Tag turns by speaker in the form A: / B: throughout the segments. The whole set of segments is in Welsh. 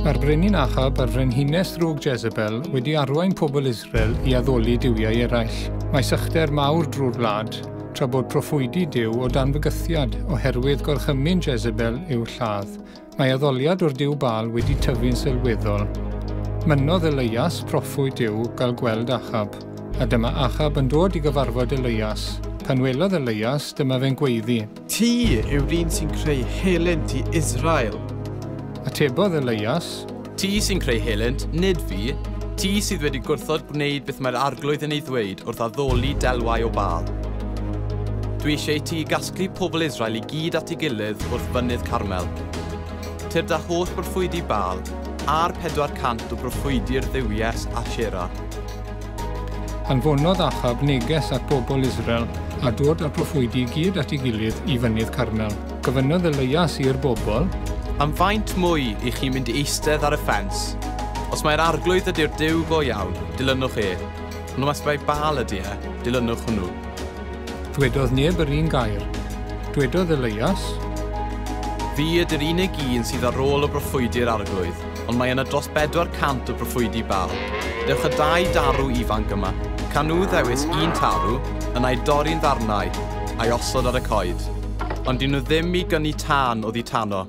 A: Mae'r brenin Achab a'r frenhines drwg Jezebel wedi arwain pobl Israel i addoli duwiau eraill. Mae sychder mawr drwy'r wlad, tra bod proffwydi Duw o dan fygythiad oherwydd gorchymyn Jezebel i'w lladd. Mae addoliad o'r Duw Baal wedi tyfu'n sylweddol. Mynnodd Eleias, proffwyd Duw, gael gweld Achab, a dyma Achab yn dod i gyfarfod Eleias. Pan welodd Eleias, dyma fe'n gweiddi. Ti yw'r
B: un sy'n creu helynt i Israel. Atebodd
A: Eleias. Ti sy'n creu
C: helynt, nid fi. Ti sydd wedi gwrthod gwneud beth mae'r arglwydd yn ei ddweud wrth addoli delwau o bal. Dwi eisiau i ti gasglu pobl Israel i gyd at ei gilydd wrth fynydd Carmel. Tyr da holl broffwydi bal, a'r 400 o broffwydi'r dduwies Ashera. Anfonodd
A: Achab neges at bobl Israel a dod â'r proffwydi i gyd at ei gilydd i fynydd Carmel. Gofynnodd Elias i'r bobl. Am faint
C: mwy i chi mynd i eistedd ar y ffens? Os mai'r arglwydd ydy'r Duw go iawn, dilynwch e, ond os mai Baal ydy e, dilynwch hwnnw. Dwedodd
A: neb yr un gair. Dwedodd Elias.
C: Fi ydy'r unig un sydd ar ôl o broffwydi'r arglwydd, ond mae yna dros 400 o broffwydi Baal. Dewch y dau darw ifanc yma. Can nhw ddewis un tarw, yna'i dorri'n ddarnau, a'i osod ar y coed. ond dyw nhw ddim i gynnu tân oddi tano.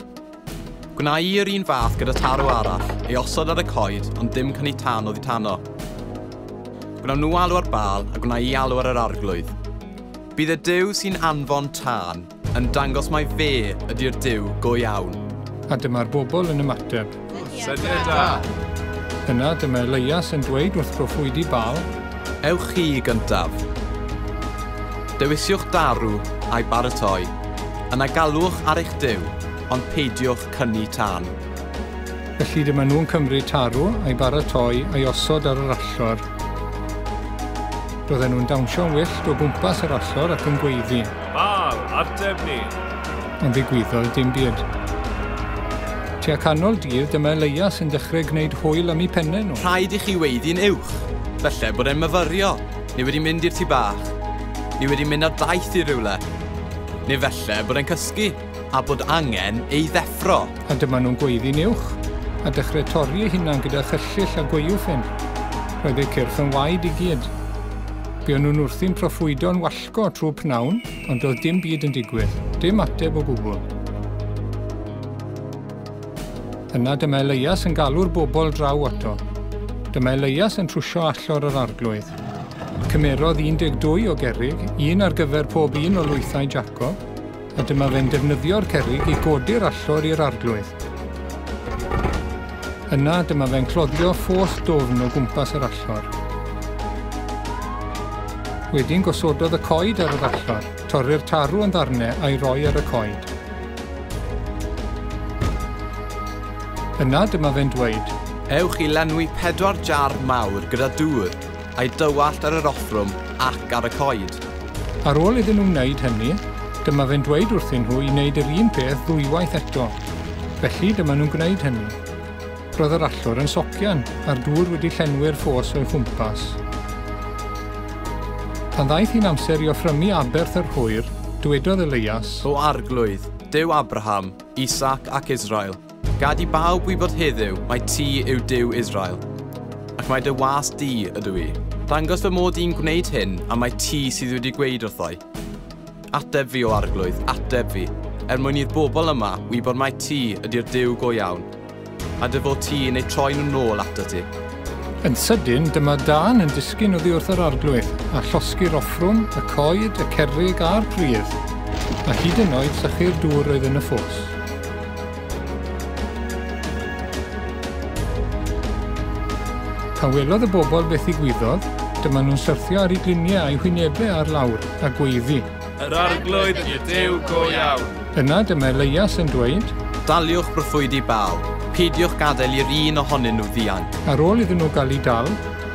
C: Gwna i yr un fath gyda tarw arall, ei osod ar y coed, ond dim cynnu tân oddi tano. Gwnawn nhw alw ar bal a gwna i alw ar yr arglwydd. Bydd y Dyw sy'n anfon tân yn dangos mai fe ydy'r Dyw go iawn. A dyma'r
A: bobl yn ymateb, Syniad
B: da! Yna
A: dyma Elias yn dweud wrth broffwydi Baal, Ewch chi i
C: gyntaf. Dewisiwch daru a'i baratoi, yna galwch ar eich Duw, ond peidiwch cynnu tân. Felly
A: dyma nhw'n cymryd tarw, a'i baratoi, a'i osod ar yr allor. Roedden nhw'n dawnsio'n wyllt o gwmpas yr allor ac yn gweiddi. Ma'r
B: ateb ni! Ond ddigwyddodd
A: dim byd. Tua canol dydd, dyma Elias yn dechrau gwneud hwyl am eu penne nhw. Rhaid i chi weiddi'n
C: uwch. Falle bod e'n myfyrio. Ni wedi mynd i'r tŷ bach. Ni wedi mynd ar daith i rywle. Neu falle bod e'n cysgu a bod angen ei ddeffro. A dyma nhw'n gweiddi'n
A: uwch a dechrau torri eu hunan gyda chyllyll a gwaywffyn. Roedd eu cyrff yn waed i gyd. Buon nhw'n wrthi'n proffwydo'n wallgo. Go trwy pnawn, ond doedd dim byd yn digwydd, dim ateb o gwbl. Yna dyma Elias yn galw'r bobl draw ato. Dyma Elias yn trwsio allor yr arglwydd. Cymerodd 12 o gerig, un ar gyfer pob un o lwythau Jacob, a dyma fe'n defnyddio'r cerrig i godi'r allor i'r arglwydd. Yna dyma fe'n cloddio ffos dwfn o gwmpas yr allor. Wedyn gosododd y coed ar yr allor, torri'r tarw yn ddarnau a'i roi ar y coed. Yna dyma fe'n dweud, Ewch i lenwi
C: pedwar jar mawr gyda dŵr a'i dywallt ar yr offrwm ac ar y coed. Ar ôl iddyn
A: nhw wneud hynny, dyma fe'n dweud wrthyn nhw i wneud yr un peth ddwywaith eto. Felly, dyma nhw'n gwneud hynny. Roedd yr allor yn socian, a'r dŵr wedi llenwi'r ffos o'i chwmpas. Pan ddaeth hi'n amser i offrymu aberth yr hwyr, dywedodd Elias, O Arglwydd,
C: Duw Abraham, Isaac ac Israel, Gad i bawb wybod heddiw mai ti yw Duw Israel, ac mai dy was di ydw i. Dangos fy mod i'n gwneud hyn a mai ti sydd wedi gweud wrthoi. Ateb fi o arglwydd, ateb fi, er mwyn i'r bobl yma wybod mai ti ydy'r Duw go iawn, a dy fod ti yn eu troi nhw'n nôl ato ti. Yn sydyn,
A: dyma Dan yn disgyn oddi wrth yr arglwydd, a llosgi'r offrwm, y coed, y cerrig a'r pridd, a hyd yn oed sychu'r dŵr oedd yn y ffos. Pan welodd y bobl beth ddigwyddodd, dyma nhw'n syrthio ar eu gliniau a'u hwynebau ar lawr a gweiddi. Yr arglwydd
B: i'r Duw go iawn! Yna dyma Elias
A: yn dweud. Daliwch broffwydi
C: Baal, peidiwch gadael i'r un ohonyn nhw ddianc. Ar ôl iddyn nhw gael eu
A: dal,